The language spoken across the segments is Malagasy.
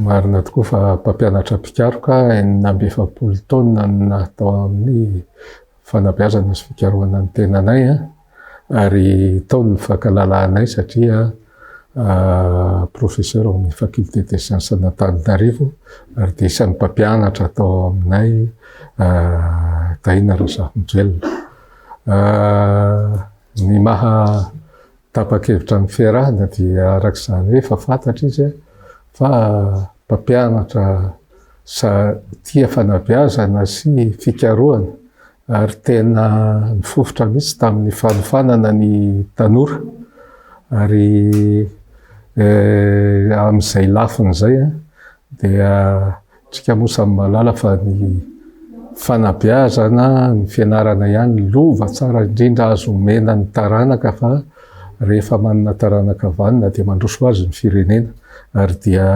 Marina tokoa fa mpampianatra mpikaroka enina amby efapolo taonina no natao amin'ny fanabeazana sy fikarohana ny tenanay. ary tao ny fankalalahanay satria professeur ao amin'ny faculté des sciences an'Antananarivo ary dia isan'ny mpampianatra tao aminay Tahina Razafinjoelina. Ny maha tapa-kevitra an'i Ferrand dia araka izany hoe efa fantatra izy fa mpampianatra tia fanabeazana sy fikarohana, ary tena nifofotra mihitsy tamin'ny fanofanana ny tanora ary eh, amin'izay lafiny izay eh, dia tsika moa samy malala fa ny fanabeazana ny fianarana ihany lova tsara indrindra azo omena ny taranaka fa rehefa manana taranaka vanona dia mandroso azy ny firenena ary dia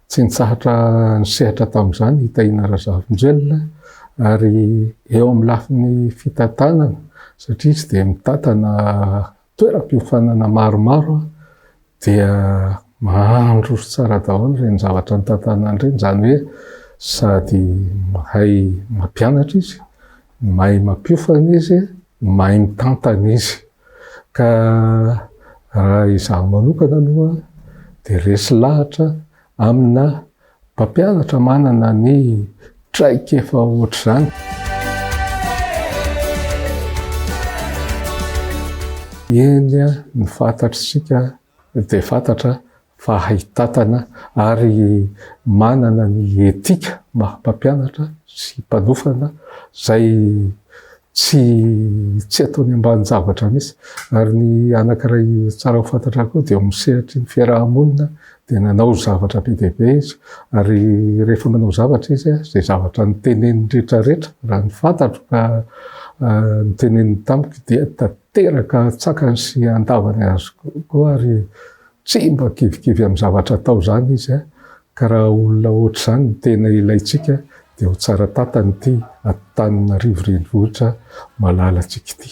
Tsy nitsahatra nisehatra tamin'izany i Tahina Razafinjelina ary eo amin'ny lafiny fitantanana satria izy dia mitantana toeram-piofanana maromaro dia mahandro tsara daholo ireny zavatra nitantanany ireny, izany hoe sady mahay mampianatra izy, mahay mampiofana izy. mahay mitantana izy ka raha izaho manokana aloha dia resy lahatra amina mpampianatra manana ny traikefa ohatr'izany. Eny ny fantatr'isika dia fantatra fa haitatana ary manana ny etika maha mpampianatra sy mpanofana izay tsy tsy ataony ambanin-javatra mihitsy. Ary ny anankiray tsara ho fantatra koa dia eo amin'ny sehatry ny fiaraha-monina dia nanao zavatra be dia be izy ary rehefa manao zavatra izy izay zavatra noteneniny rehetra rehetra raha ny fantatro ka noteneniny tamiko dia Teraka tsakany sy andavany azy koa ary tsy mba kivikivy amin'ny zavatra atao izany izy ka raha olona ohatr'izany no tena ilaintsika dia ho tsara tantana ity Antananarivo renivohitra malalantsika ity.